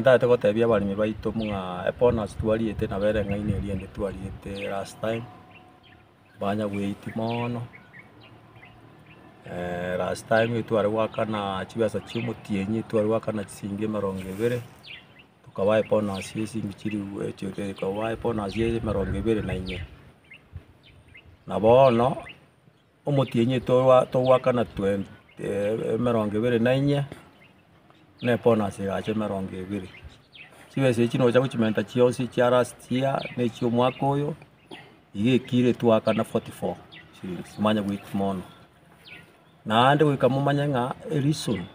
Ntagete gotebia abaremi baito buna ebonus twariete nabo ere eng'aini eria ende twariete last time, banya goeti mono, last time etware goakana chibesa chia omotienyi etware goakana chisiringi emerongo ebere, tokabae ebonus ya chisiringi chiri tokabae ebonus ya emerongo ebere na inye, na bono. Omotienyi togwakana emerongo ebere na inye, na ebonus egacha emerongo ebere. Chibesa echi nocha gochimenta chionsi chia last year na echia omwaka oyo, iga ekire twakana forty four shillings, manya goika mono. Naende goika momanye ng'a reason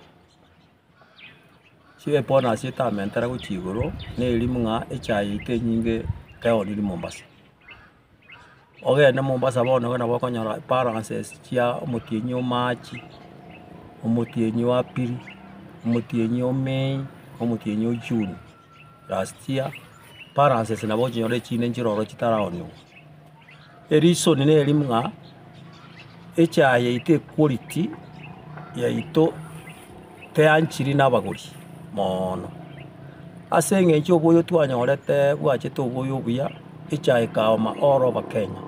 chia ebonus etamentere gochia igoro, neri buna echaye eito enyinge ekero niri Mombasa. Ogende Mombasa bono iga nabo okonyora balances chia omotienyi o March, omotienyi o April, omotienyi o May, omotienyi o June. Last year, balances nabo ochinyore echinde nchire ororo chitaraonigwa. Ereason neri buna, echae yaito equality yaito. teanchiri nabagori moono. Ase eng'encho oboyo twanyorete bwachete oboyo obuya, echa ekaoma all over Kenya,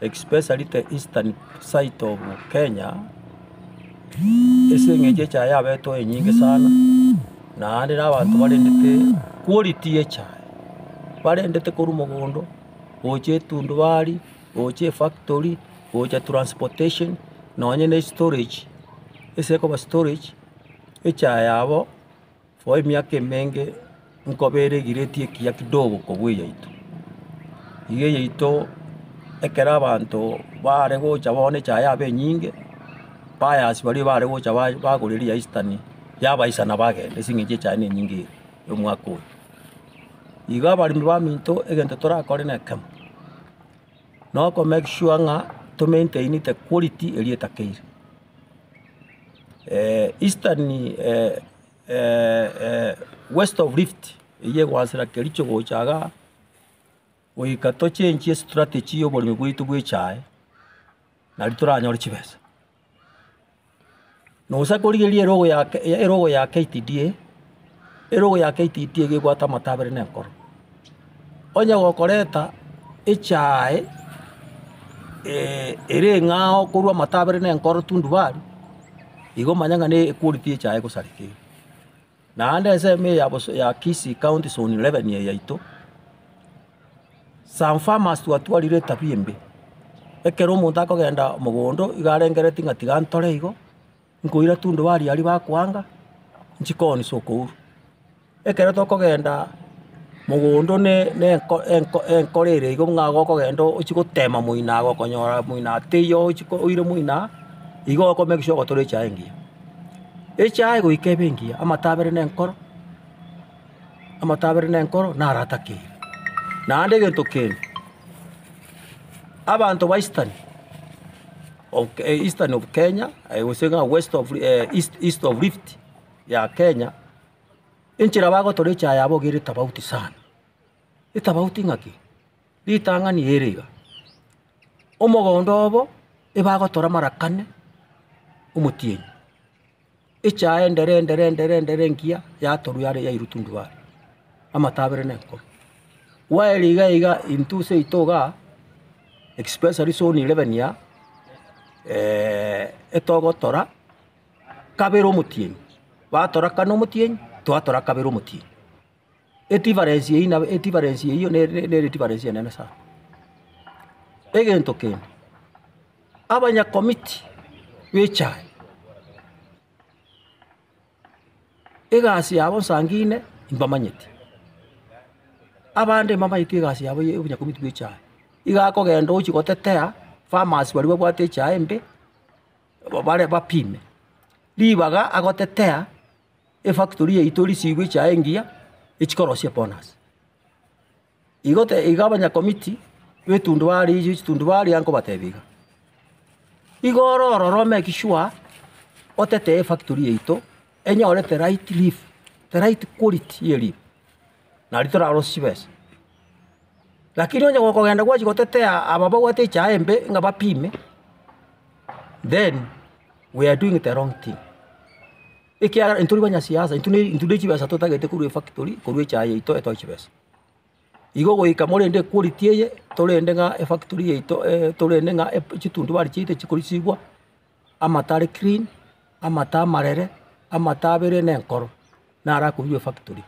especially the eastern side of Kenya, ase eng'encho echa yabetwe enyinge sana, naende na abanto barendete quality y'echae, barendete korwa mogondo, gocha etundubari. gocha efactory, gocha transportation, nonye ne estorage, ase ekoba storage, echae yabo for emiaka emenge nkoba eregireti ekiya kidogo kobua eyaito. Iga eyaito ekero abanto bare gocha bono echae yabo enyinge, buyers baria bare gocha ba- bagora eria ya eastern, yabaisana bagenda ase eng'encho echae nenyinge ere omwaka oyo. Iga abaremi baminto egento torakore nekemo. na okomake sure ng'a tomaintaini the quality eria etakeire. Eastern west of rift eyio egoasera kericho gocha iga goika tochenchie strategy ya oboremi bwaito bwa echae, nari toranyore chibesa. Na gose akorigereria erogo ya ke- ya erogo ya KTDA, erogo ya KTDA iga ebwate amato abere na enkoro. Onye gokoreta echae ere eng'ao korwa amato abere na enkoro tundubari, igo omanye ng'a ne equality y'echae egosareka eria. Naende ensemo eye ya boso ya Kisii County Zone 11 eye yaito, some farmers twatwarire etabia embe. Ekero omonto akogenda mogondo nigo arengeretie ng'a tiga ntore igo, nkoira tunduba aria aria bakoanga, nchikooni sokourwa. Ekero tokogenda mogondo ne ne enko enko enkoro ere igo ng'a gokogenda ochie gotema moino agokonyora moino aa teiyo ochi ko oire moino aa, igo okomake sure ogotora echae engiya. Echae goika ebe engiya, amato abere na enkoro, amato abere na enkoro naratakeire. Naende egento kende, abanto ba Eastern of Eastern of Kenya gose ng'a West of East East of Rift ya Kenya, enchera bagotora echae yabo iga ere tofauti sana. Etabauti ng'aki? Ritang'ani ere iga, Omogondo obo ebagotora marakane omotienyi, echae endere endere endere endere engiya yatorwa yare yairwa tundubare, amato abere na enkomo. While iga iga intwe ase yaito iga, especially zone eleven ya, etogotora kabere omotienyi, batora kane omotienyi, twatora kabere omotienyi. Edifaresi eyio nabo edifaresi eyio ne ne nere edifaresi enene sana. Egento kende, abanyakomiti b'echae, egasi yabo nsangine mbamanyeti, abande mbamanyeti egasi yabo ya obonyakomiti bw'echae, iga akogenda ochi gotetea farmers baria babwate echae embe, ba- bare bapime, ribaga agotetea. Efactory yaito risiigwe chiaye engiya echikorosia bonus. Igo te iga abanyakomiti b'etundu bare echio chitundu baria nkobatebia iga, igo ore ororo omake sure otete efactory yaito enyore the right leave, the right quality ye leave, nari torarosie chibesa. Lakini onye gokogenda gwachia gotetea aba babwate echae embe ng'a bapime, then we are doing the wrong thing. ekiagera intwe tari banyasiasa, intwe ne intwe ne chibesa totagete korwa efactory korwa echae yaito etoe chibesa. Igo goika morende equality eye, torende ng'a efactory yaito torende ng'a ep chitundu bare chiaito chikorisigwa, amato are clean, amato amarere, amato abere na enkoro, naro akonywa efactory.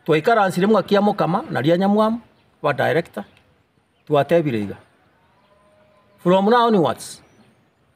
Twaikaransire buna kia mokama na rianyamwamu, ba director, twatebire iga, from now onwards,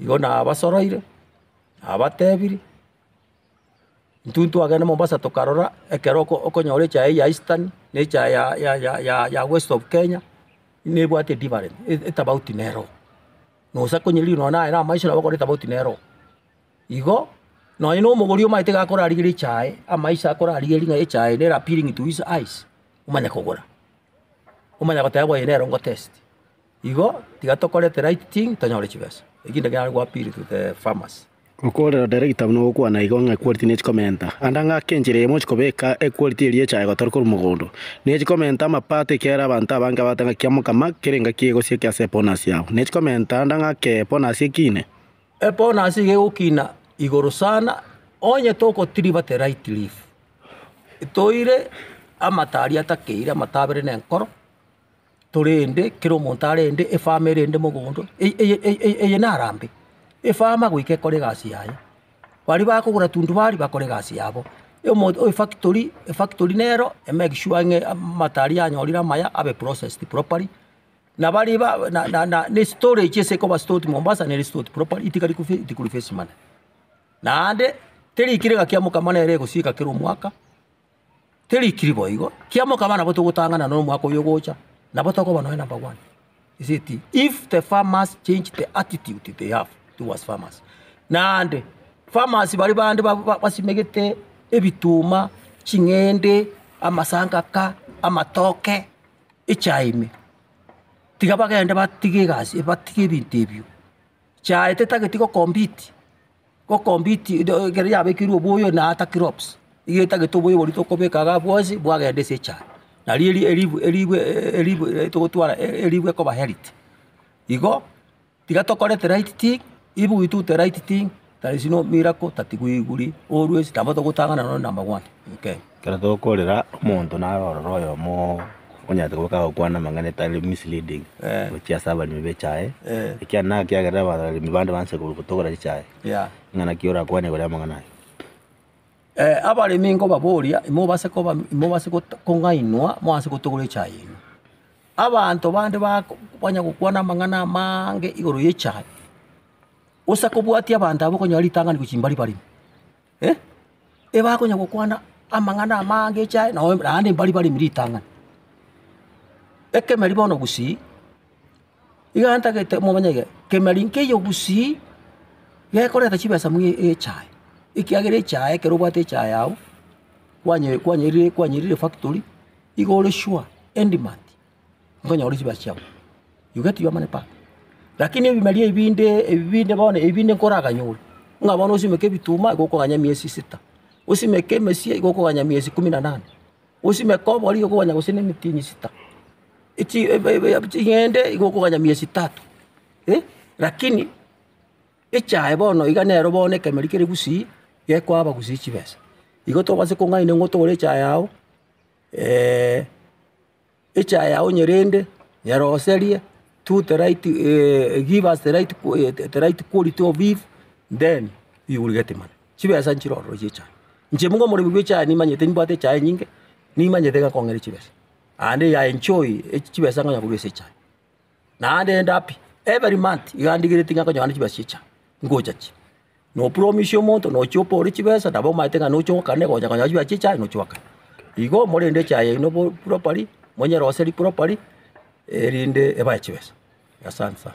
Igo nabasoroire, nabatebirie, intwe ntwagenda Mombasa tokarora ekero oko okonyora echae ya Eastern, na echae ya ya ya ya ya West of Kenya, buna ebwate different etafauti nero, na gose akonye rirorio nonye naye na amaiso nabo akore etafauti nero. Igo, nonye na omogori omanyete iga akorarigeria echae, amaiso akorarigeria ng'a echae ere appealing to his eyes, omanye kogora, omanye goteba oyo nere ngotesti. Igo tiga tokore the right thing tonyore chibesa. Ekinde kere are go appeal to the farmers. Okorera odere egetabu nogokwana igo ng'a equality nechi komenta. Anda ng'a ake enchera eyemo chikobeka equality eria echaye gotari korwa mogondo. Nechi komenta amapato ekiagera abanto abange abate ng'a kia mokama kere engaki egosia eke ase ebonus yabo. Nechi komenta anda ng'a ake ebonus ekine. Ebonus iga egokina igoro sana onye togotiriba the right leaf. Toire amata aria atakeire amata abere nenkoro. torende kera omonto arende efama erende mogondo eye eye eye eye narambe, efama goika ekore egasi yaye. Baria bakogora tundubari bakore egasi yabo, omo efactory efactory nero emake sure ng'a amato aria anyorire amaya abe processed properly, na baria ba na na na na estorage ase ekoba stored mombasa nere stored properly etigari kofi etikori face manene. Naende, teri kera engaki ya mokama nere egosieka kera omwaka. Teri kiri boigo, kiamoka abana abwo togotang'ana na omwaka oyo ogocha, nabo tokoba nonya number one. He said ti if the farmers change the attitude they have towards farmers naende farmers baria bande ba- ba- basimegete ebituma, ching'ende, amasangaka, amatoke, echae ime, tiga bagende batige egasi, batige ebinto ebio. Chae tetageti go compete Gokombiti do ekero yabekirwe oboyo na ata kirops, iga etagete oboyo boria tokobeka iga bwonsi bwagenda ase echaye. Nario eri eribu eribu eribu e togotwara e- eribu ekoba healthy. Igo, tiga tokore the right thing, if we do the right thing, there is no miracle that we will always nabo togotang'ana nonye number one in Kenya. Ekero tokorera omonto naro ororo oyomo oo onyarete goika agokwana amang'ana etari misleading gochia ase abaremi ba echae, ekiagera naki ekiagerera abaremi bande banse ko- kotogora echae, ng'a naki orakwane igoro y'amang'ana aya. abaremi nkobaboria imobase koba imobase goto kong'ainwa moanse gotogora echae yaino. Abanto bande bako banya gokwana amang'ana amaange igoro y'echae, gose kobwatia abanto abwo okonyora ritang'ani gochia mbari barimo. ebakonya gokwana amang'ana amange echae, nonye naende mbari baremi ritang'ani. Ekemeri bono gusii, iga ntagete momanyege, kemeri nkeiyo gusii, gekoreta chibesa mwa echae, ekiagera echae ekero obwate echae yago, kwanye kwanyerire kwanyerire efactory, iga ore sure, endimati. nkonyore chibaasi chiabo. You get your money back. Rakini ebimeria ebi binde, ebi binde bono, ebi binde nkoraganyore, ng'a bono osimeke ebituma igo okoganya emiesi sita, osimeke emesie igo okoganya emiesi ikomi na nane, osimeke obori igo okoganya gose nemitini sita, echi ebe ebe ebe ching'ende igo okoganya miesi tatu. Eh, rakini echaye bono iga nero bono ekemeri kere gusii, gekoaba gusii chibesa. Igo tobase kong'aini ng'otore echaye yao Echaye yao nyerende nyeroserie two the right give us the right the right quality of beef then we will get money. Chibesa nchire ororo chia echaye. Inche nigo omoremi bw'echaye nimanyete nimbwate echaye nyinge, nimanyete ng'a kong'e ne chibesa, aende I enjoy chibesa ngonya korwa ase echaye. naende ende happy every month iga ndigeretie ng'a nkonyora chibesa chiacha, ngocha chi. Nopromise omonto nochia opore chibesa nabo omanyete ng'a nocha ogokana egocha konyora chibesa chiacha aye nocha ogokana. Igo morende echaye yaino bo properly, monyeroserie properly erinde ebae chibesa. Asante sana.